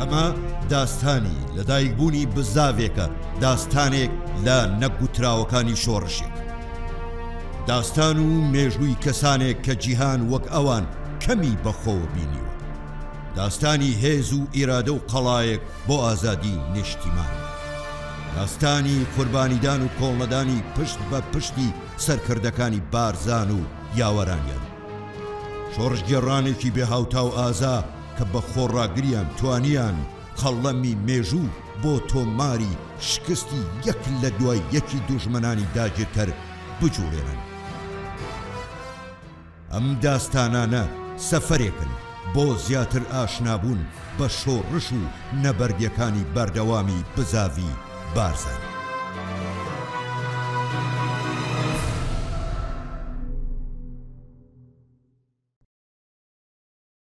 ئەمە داستانی لەدایکبوونی بزاڤێکە داستانێک لە نەگوتراوەکانی شۆڕشێک داستان و مێژووی کەسانێک کە جیهان وەک ئەوان کەمی بەخۆ بینیوە داستانی هێز و ئیرادە و قەڵایەک بۆ ئازادی نیشتیمان. هەستانی قوربانیدان و کۆڵنەدانی پشت بە پشتی سەرکردەکانی بارزان و یاوەرانیان. شۆڕشگێڕانێکی بێ هاوتا و ئازا کە بە خۆڕاگریان توانیان قەڵەمی مێژوو بۆ تۆماری شکستی یەک لە دوای یەکی دوژمنانی داگیرکەر بجووڵێنن. ئەم داستانانە سەفەرێکن بۆ زیاتر ئاشنابوون بە شۆڕش و نەبەردەکانی بەردەوامی بزاڤی بارزانی.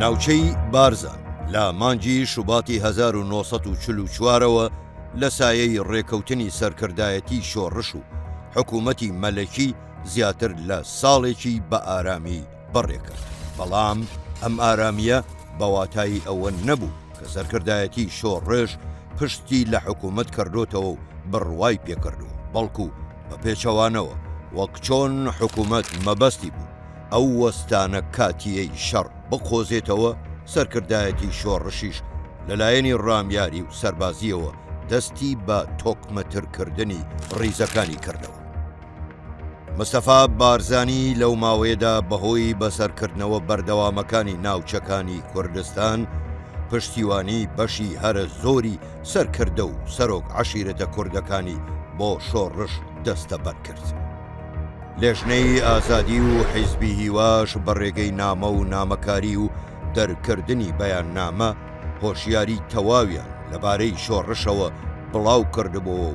ناوچەی بارزان لە مانگی شوباتی 1940 ەوە لە سایەی ڕێکەوتنی سەرکردایەتی شۆڕش و حکوومەتی مەلەکی زیاتر لە ساڵێکی بە ئارامی بەڕێکە، بەڵام ئەم ئارامییە بە واتای ئەوە نەبوو کە سەرکردایەتی شۆڕش پشتی لە حکوومەت کردۆتەوە و بڕوای پێکردووە، بەڵکوو بە پێچەوانەوە وەک چۆن حکوومەت مەبەستی بوو ئەو وەستانە کاتییەی شەڕ بقۆزێتەوە، سەرکردایەتی شۆڕشیش لە لایەنی ڕامیاری و سەربازییەوە دەستی بە تۆکمەترکردنی ڕیزەکانی کردەوە. مستەفا بارزانی لەو ماوەیەدا بەهۆی بەسەرکردنەوە بەردەوامەکانی ناوچەکانی کوردستان، پشتیوانی بەشی هەرە زۆری سەرکردە و سەرۆک عەشیرەتە کوردەکانی بۆ شۆڕش دەستەبەر کرد. لێژنەی ئازادی و حیزبی هیواش بە ڕێگەی نامە و نامەکاری و دەرکردنی بەیاننامە، هۆشیاری تەواویان لەبارەی شۆڕشەوە بڵاو کردبووەو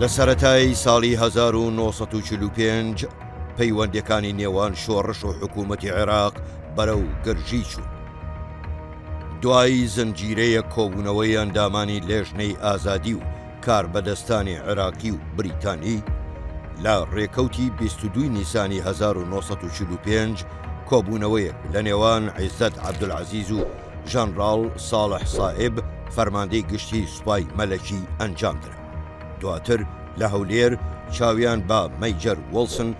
لە سەرەتای ساڵی هەزار و نۆ سەد و چل و پێنج پەیوەندیەکانی نێوان شۆڕش و حکوومەتی عێراق بەرەو گرژی چوو. دوایی زنجیرەیە کۆبوونەوەی ئەندامانی لێژنەی ئازادی و کاربەدەستانی عێراقی و بریتانی لە ڕێکەوتی بیست و دووی نیسانی هەزار و نۆ سەد و چل و پێنج کۆبوونەوەیەک لە نێوان عیزەت عەبدولعەزیز و ژەنڕاڵ ساڵح سائب فەرماندەی گشتی سوپای مەلەکی ئەنجام درا دواتر لە هەولێر چاویان بە مەیجەر وڵسن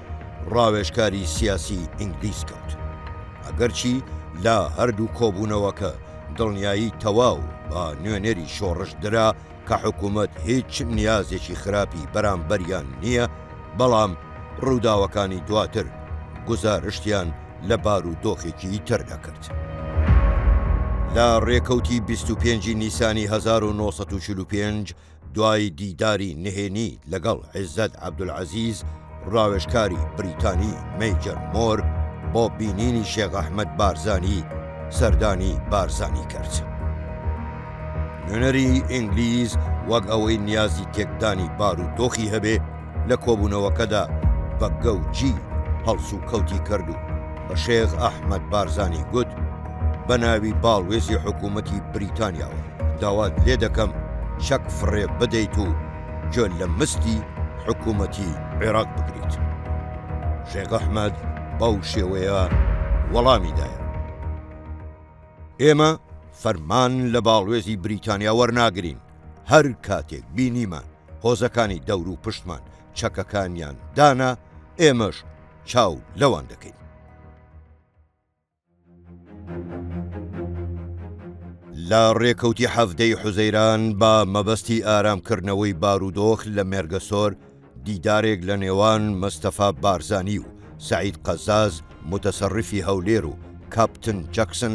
ڕاوێژکاری سیاسی ئینگلیس کەوت ئەگەرچی لە هەردوو کۆبوونەوەکە دڵنیایی تەواو بە نوێنەری شۆڕش درا کە حکومەت هیچ نیازێکی خراپی بەرامبەریان نییە، بەڵام ڕووداوەکانی دواتر گوزارشتیان لە بارودۆخێکی تر دەکرد. لە ڕێکەوتی بیست و پێنج ی نیسانی هەزار و نۆ سەد و چل و پێنج، دوای دیداری نهێنی لەگەڵ عیزەت عەبدولعەزیز، ڕاوێژکاری بریتانی مەیجەر مۆر بۆ بینینی شێخ ئەحمەد بارزانی سەردانی بارزانی کرد. نوێنەری ئینگلیز وەک ئەوەی نیازی تێکدانی بار و دۆخی هەبێ لە کۆبوونەوەکەدا بە گەوجی هەڵس و کەوتی کرد و بە شێخ ئەحمەد بارزانی گوت بە ناوی باڵوێزی حکوومەتی بریتانیاوە داوات لێ دەکەم چەک فڕێ بدەیت و گوێ لە مستی حکوومەتی عێراق بگریت. شێخ ئەحمەد بەو شێوەیە وەڵامی دایەوە. ئێمە فەرمان لە باڵوێزی بریتانیا وەرناگرین، هەر کاتێک بینیمان هۆزەکانی دەوروپشتمان چەکەکانیان دانا، ئێمەش چاو لەوان دەکەین. لە ڕێکەوتی حەڤدە ی حوزەیران بە مەبەستی ئارام کردنەوەی بارودۆخ لە مێرگەسۆر دیدارێک لە نێوان مستەفا بارزانی و سەعید قەزاز موتەسەڕیفی هەولێر و کاپتن جەکسن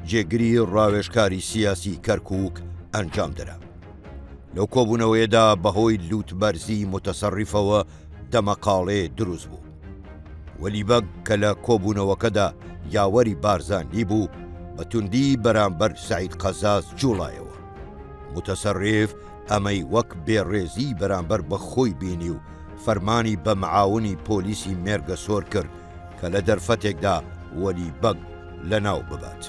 جێگری ڕاوێژکاری سیاسی کەرکوک ئەنجام درا. لەو کۆبوونەوەیەدا بەهۆی لووتبەرزی موتەسەڕیفەوە دەمەقاڵێ دروست بوو. وەلی بەگ کە لە کۆبوونەوەکەدا یاوەری بارزانی بوو، بە توندی بەرامبەر سەعید قەزاز جووڵایەوە. موتەسەرریف ئەمەی وەک بێڕێزیی بەرامبەر بە خۆی بینی و فەرمانی بە معاونی پۆلیسی مێرگەسۆر کرد کە لە دەرفەتێکدا وەلی بەگ لەناو ببات.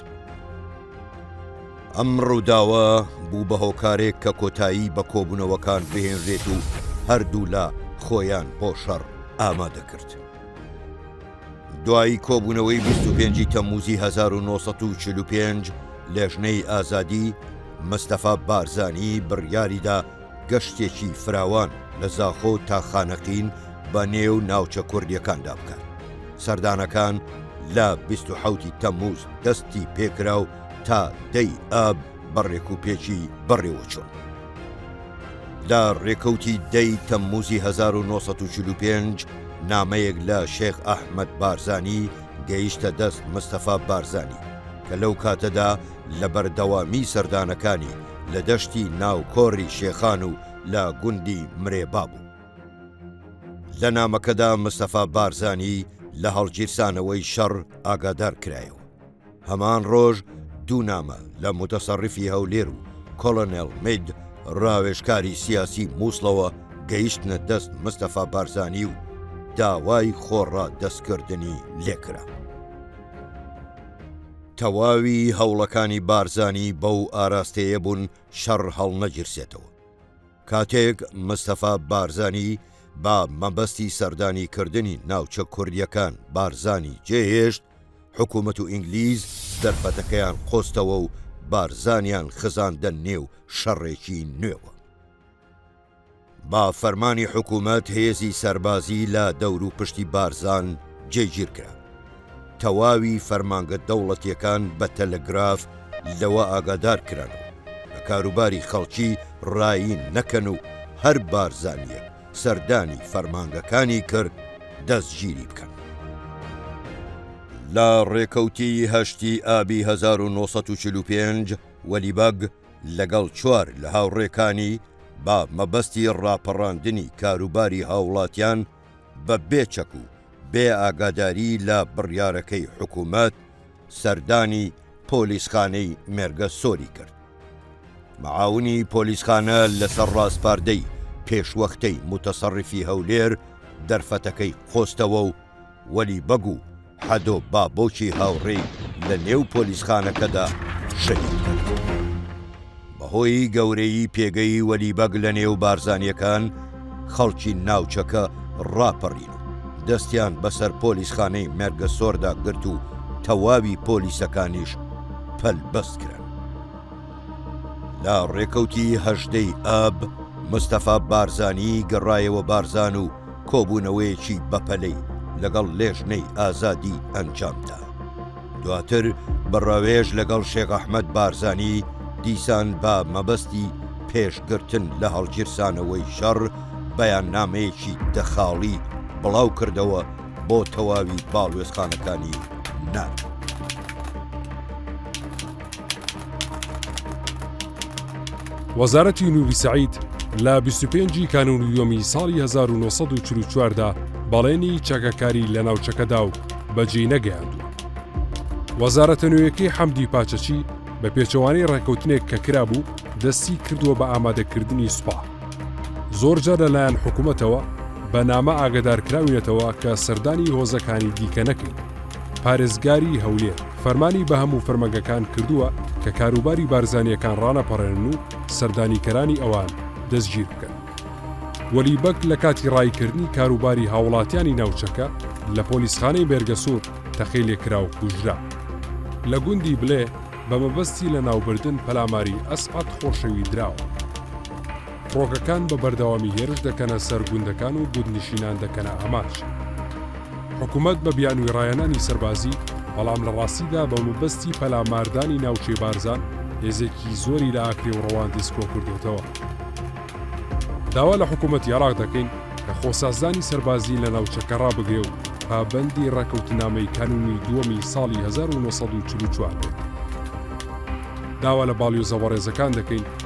ئەم ڕووداوە بوو بە هۆکارێک کە کۆتایی بە کۆبوونەوەکان بهێنرێت و هەردوولا خۆیان بۆ شەڕ ئامادە کرد. دوایی کۆبوونەوەی 25 تەموزی 1945 لێژنەی ئازادی مستەفا بارزانی بڕیاریدا گەشتێکی فراوان لە زاخۆ تا خانەقین بە نێو ناوچە کوردیەکاندا بکات سەردانەکان لە 27 تەموز دەستی پێکراو تا دەی ئاب بە ڕێکوپێکی بەڕێوەچوون. لە ڕێکەوتی دەی تەمموزی 1945 نامەیەک لە شێخ ئەحمەد بارزانی گەیشتە دەست مستەفا بارزانی کە لەو کاتەدا لە بەردەوامی سەردانەکانی لە دەشتی ناو کۆری شێخان و لە گوندی مرێبا بوو. لە نامەکەدا مستەفا بارزانی لە هەڵگیرسانەوەی شەڕ ئاگادار کرایەوە. هەمان ڕۆژ دوو نامە لە موتەسەڕیفی هەولێر و کۆڵۆنێڵ مید ڕاوێژکاری سیاسی مووسڵەوە گەیشتنە دەست مستەفا بارزانی و داوای خۆڕادەستکردنی لێ کرا. تەواوی هەوڵەکانی بارزانی بەو ئاراستەیە بوون شەڕ هەڵنەگیرسێتەوە. کاتێک مستەفا بارزانی بە مەبەستی سەردانی کردنی ناوچە کوردییەکان بارزانی جێهێشت، حکومەت و ئینگلیز دەرفەتەکەیان قۆستەوە و بارزانیان خزاندە نێو شەڕێکی نوێوە. بە فەرمانی حکومەت هێزی سەربازی لە دەور و پشتی بارزان جێگیر کرا. تەواوی فەرمانگە دەوڵەتیەکان بە تەلەگراف لەوە ئاگادار کران و بە کاروباری خەڵکی ڕایین نەکەن و هەر بارزانیەک، سەردانی فەرمانگەکانی کرد دەستگیری بکەن. لە ڕێکەوتی هەشتی ئابی هەزار و نۆ سەد و چل و پێنج وەلی بەگ لەگەڵ چوار لە هاوڕێکانی بە مەبەستی ڕاپەڕاندنی کاروباری هاوڵاتیان بە بێ چەک و بێ ئاگاداری لە بڕیارەکەی حکوومەت، سەردانی پۆلیسخانەی مێرگە سۆری کرد. معاونی پۆلیسخانە لەسەر ڕاسپاردەی پێشوەختەی موتەسەڕیفی هەولێر دەرفەتەکەی قۆستەوە و وەلی بەگ و حەدۆ بابۆکی هاوڕێی لە نێو پۆلیسخانەکەدا شەهید کرد. بەهۆی گەورەیی پێگەی وەلی بەگ لە نێو بارزانیەکان خەڵکی ناوچەکە ڕاپەڕین و دەستیان بەسەر پۆلیسخانەی مێرگەسۆردا گرت و تەواوی پۆلیسەکانیش پەلبەست کران. لە ڕێکەوتی هەژدەی ئاب مستەفا بارزانی گەڕایەوە بارزان و کۆبوونەوەیەکی بەپەلەی لەگەڵ لێژنەی ئازادی ئەنجامدا. دواتر بە ڕاوێژ لەگەڵ شێخ ئەحمەد بارزانی دیسان بە مەبەستی پێشگرتن لە هەڵگیرسانەوەی شەڕ بەیاننامەیەکی دە خاڵی بڵاو کردەوە بۆ تەواوی باڵوێزخانەکانی ناتۆ. وەزارەتی نووری سەعید لە 25 ی کانون یۆمی ساڵی 1940دا بەڵێنی چەکەکاری لە ناوچەکەدا و بەجێی نەگەیاندووە. وەزارەتە نوێیەکەی حەمدی پاچەچی بە پێچەوانەی ڕێککەوتنێک کە کرابوو دەستی کردووە بە ئامادەکردنی سوپا. زۆرجار لەلایەن حکوومەتەوە بە نامە ئاگدارکراوینەتەوە کە سەردانی هۆزەکانی دیکە نەکەین. پارێزگاری هەولێر. فەرمانی بە هەموو فەرمەگەکان کردووە کە کاروباری بارزانییەکان ڕانەپەڕێنن و سەردانیکەرانی ئەوان دەستگیر بکەن. وەلی بەگ لە کاتی ڕاییکردنی کاروباری هاوڵاتیانی ناوچەکە لە پۆلیسخانەی مێرگەسوور تەقەی لێکرا و کوژرا. لە گوندی بلێ بە مەبەستی لەناوبردن پەلاماری ئەسعەد خۆشەوی دراوە. فڕۆکەکان بە بەردەوامی هێرش دەکەنە سەر گوندەکان و گوندنشینان دەکەنە ئامانج. حکومەت بە بیانوی ڕایانانی سەربازی، بەڵام لە ڕاستیدا بە مەبەستی پەلاماردانی ناوچەی بارزان هێزێکی زۆری لە ئاکرێ و ڕەواندز کۆکردۆتەوە. داوا لە حکومەتی عێراق دەکەین کە خۆسازدانی سەربازی لە ناوچەکە ڕابگرێ و پابەندی ڕێکەوتنامەی کانونی دووەمی ساڵی هەزار و نۆ سەد و چل و چوار بێت. داوا لە باڵیۆزە بەڕێزەکان دەکەین،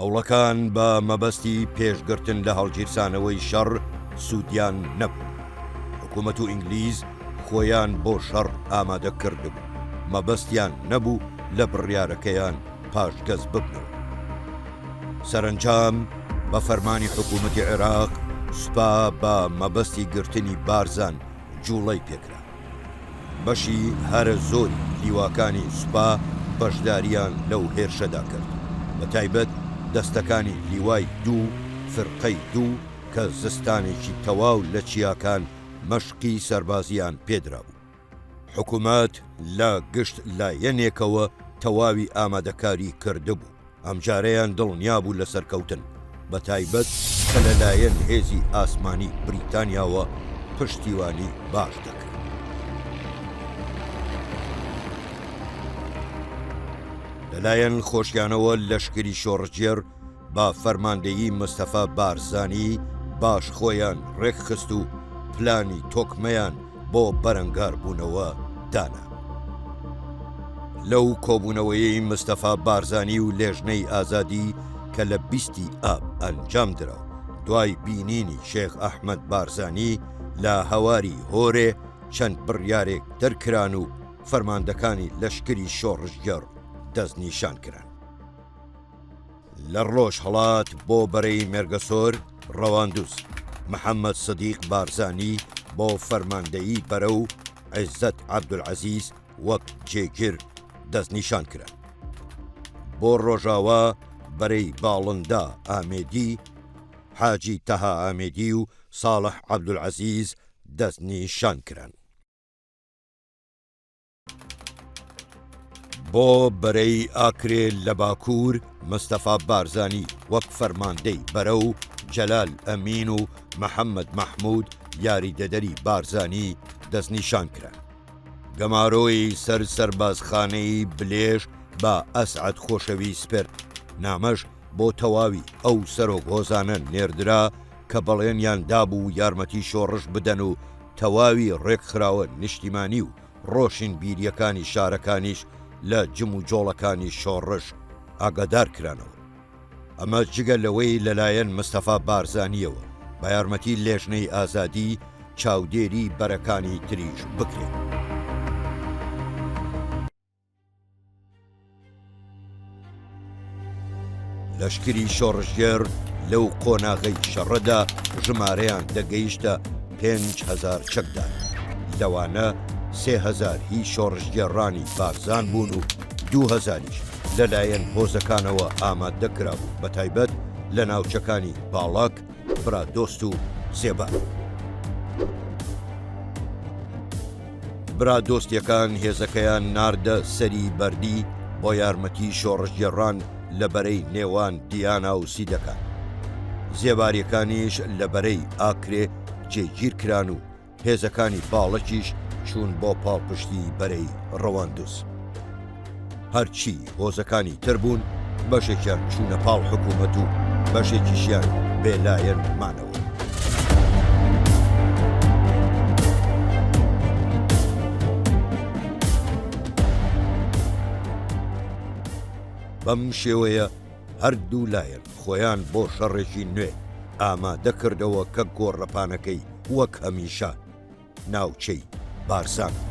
هەوڵەکان بە مەبەستی پێشگرتن لە هەڵگیرسانەوەی شەڕ سوودیان نەبوو حکوومەت و ئینگلیز خۆیان بۆ شەڕ ئامادە کردبوو مەبەستیان نەبوو لە بڕیارەکەیان پاشگەز ببنەوە. سەرەنجام بە فەرمانی حکوومەتی عێراق سوپا بە مەبەستی گرتنی بارزان جووڵەی پێکرا. بەشی هەرە زۆری لیواکانی سوپا بەشدارییان لەو هێرشەدا کرد، بە تایبەت دەستەکانی لیوای دوو، فرقەی دوو، کە زستانێکی تەواو لە چیاکان مەشقی سەربازییان پێ درابوو. حکومەت لە گشت لایەنێکەوە تەواوی ئامادەکاری کردبوو، ئەمجارەیان دڵنیا بوو لە سەرکەوتن، بە تایبەت کە لە لایەن هێزی ئاسمانی بریتانیاوە پشتیوانی باش دەکرا. لەلایەن خۆشیانەوە لەشکری شۆڕشگێڕ بە فەرماندەیی مستەفا بارزانی باش خۆیان ڕێکخست و پلانی تۆکمەیان بۆ بەرەنگاربوونەوە دانا. لەو کۆبوونەوەیەی مستەفا بارزانی و لێژنەی ئازادی کە لە بیستی ئاب ئەنجام درا و دوای بینینی شێخ ئەحمەد بارزانی لە هەواری هۆرێ چەند بڕیارێک دەرکران و فەرماندەکانی لەشکری شۆڕشگێڕ دەستنیشان کران. لە ڕۆژهەڵات بۆ بەرەی مێرگەسۆر ڕەواندوز، محەممەد سدیق بارزانی بۆ فەرماندەیی بەرە و عێزەت عەبدولعەزیز وەک جێگر دەستنیشان کران. بۆ ڕۆژاوا بەرەی باڵندە ئامێدی، حاجی تەها ئامێدی و ساڵح عەبدولعەزیز دەستنیشان کران. بۆ بەرەی ئاکرێ لە باکوور مستەفا بارزانی وەک فەرماندەی بەرە و جەلال ئەمین و محەممەد مەحمود یاریدەدەری بارزانی دەستنیشان کرا. گەمارۆی سەر سەربازخانەی بلێژ بە ئەسعەد خۆشەوی سپرد، نامەش بۆ تەواوی ئەو سەرۆک هۆزانە نێردرا کە بەڵێنیان دابوو یارمەتی شۆڕش بدەن و تەواوی ڕێکخراوە نیشتیمانی و ڕۆشنبیرییەکانی شارەکانیش لە جموجۆڵەکانی شۆڕش ئاگادار کرانەوە. ئەمە جگە لەوەی لەلایەن مستەفا بارزانییەوە بە یارمەتی لێژنەی ئازادی چاودێری بەرەکانی تریش بکرێن. لەشکری شۆڕشگێڕ لەو قۆناغەی شەڕەدا ژمارەیان دەگەیشتە پێنج هەزار چەکدار لەوانە سێ هەزار هی شۆڕشگێڕانی بارزان بوون و دو هەزاریش لەلایەن هۆزەکانەوە ئامادە کرابوو بە تایبەت لە ناوچەکانی باڵاک برا دۆست و زێبا. برا دۆستیەکان هێزەکەیان ناردە سەری بەردی بۆ یارمەتی شۆڕشگێڕان لە بەرەی نێوان دیانا و سیدەکان. زێباریەکانیش لە بەرەی ئاکرێ جێگیرکران و هێزەکانی باڵەکیش چوون بۆ پاڵپشتی بەرەی ڕەواندز. هەرچی هۆزەکانی تر بوون بەشێکیان چوونە پاڵ حکوومەت و بەشێکیشیان بێلایەن مانەوە. بەم شێوەیە هەردوو لایەن خۆیان بۆ شەڕێکی نوێ ئامادە کردەوە کە گۆڕەپانەکەی وەک هەمیشە ناوچەی بارزان بوو.